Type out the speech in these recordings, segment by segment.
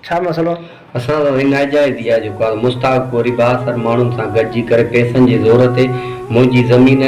ڇا مسئلو آهي؟ اسان سان سائين ناجائز ئي آهي جو ڪا مستحق پورهي بااثر ماڻهن سان گڏجي ڪري پئسن جي زور تي منهنجي زمين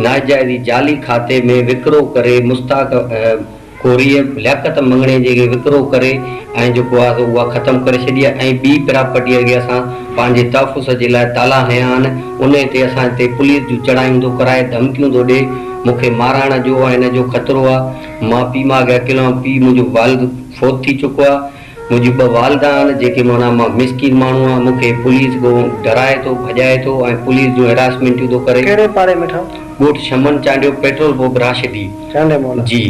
ناجائز ئي جعلي کاتي ۾ وڪرو ڪري مستحق ڪوريء لياقت مڱڻي جي اڳيان وڪرو ڪري ۽ جيڪو آهي سو اها ختم ڪري ڇڏي آهي ۽ ٻي پراپرٽيء اڳيان اسان پنهنجي تحفظ جي لاء تالا هنيا آهن، انهيء تي اسان تي پوليس جون چڙهايون ٿو ڪرائي، ڌمڪيون ٿو ڏئي، مون کي مارائڻ جو ۽ ان جو خطرو آهي، مان پيء ماء کي اڪيلو آهيان، پيء منهنجو والد فوت ٿي چڪو آهي. منهنجي ٻه والدا آهن جيڪي معنيٰ مان مسڪين ماڻهو آهيان مون کي پوليس ڳوهه ڊرائي ٿو ڀڄائي ٿو ۽ پوليس جون هراسمينٽيون ٿو ڪري. ڪهڙي پاڙي ۾ ٺاهه؟ ڳوٺ شمن چانڊيو پيٽرول پوپ راشدي. چانڊيو مولا. جي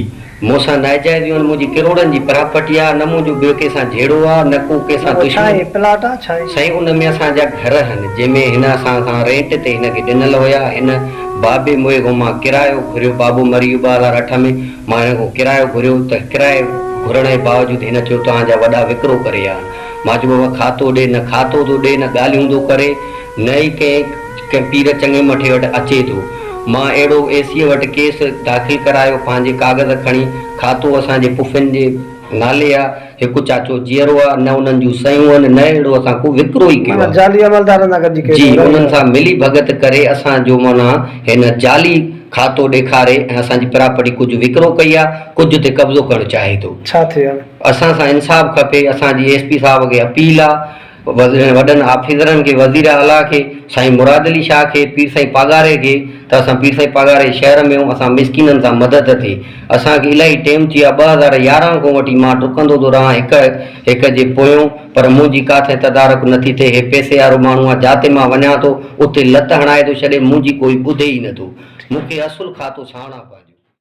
مون سان ناجائزيون آهن منهنجي ڪروڙن جي پراپرٽي آهي نه منهنجو ٻيو ڪنهن سان جهيڙو آهي نه ڪو ڪنهن سان دشمني. ڇا هي پلاٽ آهي ڇا هي؟ سائين ان ۾ اسان جا گهر آهن جنهن ۾ هن اسان کان رينٽ تي هن کي ڏنل هيا هن بابي موهي کان مان ڪرايو گهريو بابو مري ويو ٻه هزار اٺ ۾ مان هن کان ڪرايو گهريو ته ڪرائي گهرڻ جي باوجود هن چيو توهان جا وڏا وڪرو ڪري ويا آهن. مان چيو بابا کاتو ڏي، نه کاتو ٿو ڏي نه ڳالهيون ٿو ڪري نه ئي ڪنهن ڪنهن پير چڱي مٺي وٽ اچي ٿو. مان اهڙو اي سيء وٽ ڪيس داخل ڪرايو پنهنجي ڪاغذ کڻي کاتو اسان جي پڦين جي نالي آ. هڪ چاچو جيئرو آ، نه انهن جون سيون آهن، نه اهڙو اسان ڪو وڪرو ئي ڪيو معنيٰ آ. جعلي عملدارن سان گڏجي ڪيس جي انهن سان ملي ڀڳت ڪري اسان جو معنيٰ هن جعلي کاتو ڏيکاري ۽ اسان جي پراپرٽي ڪجهه وڪرو ڪئي آ، ڪجهه تي قبضو ڪرڻ چاهي ٿو. ڇا ٿئي هاڻي؟ اسان سان انصاف کپي، اسان جي ايس پي صاحب کي اپيل آ. وڏن آفيسرن کي، وزير اعليٰ کي، سائين مراد علي شاهه کي، پير سائين پاڳاري کي ته اسان پير سائين پاڳاري شهر ۾ اسان مسڪينن سان مدد ٿئي. اسان کي الاهي ٽيم ٿي ويو آهي، ٻه هزار يارهن کان وٺي مان ڊڪندو ٿو رهان هڪ هڪ جي پويون پر منهنجي ڪاٿي تدارڪ نه ٿي ٿئي. هي پئسي وارو ماڻهو آهي، جاتي مان وڃان ٿو اتي لت هڻائي ٿو ڇڏي، منهنجي ڪوئي ٻڌي ئي نه ٿو. مون کي اصل کاتو ساڻا پنهنجو.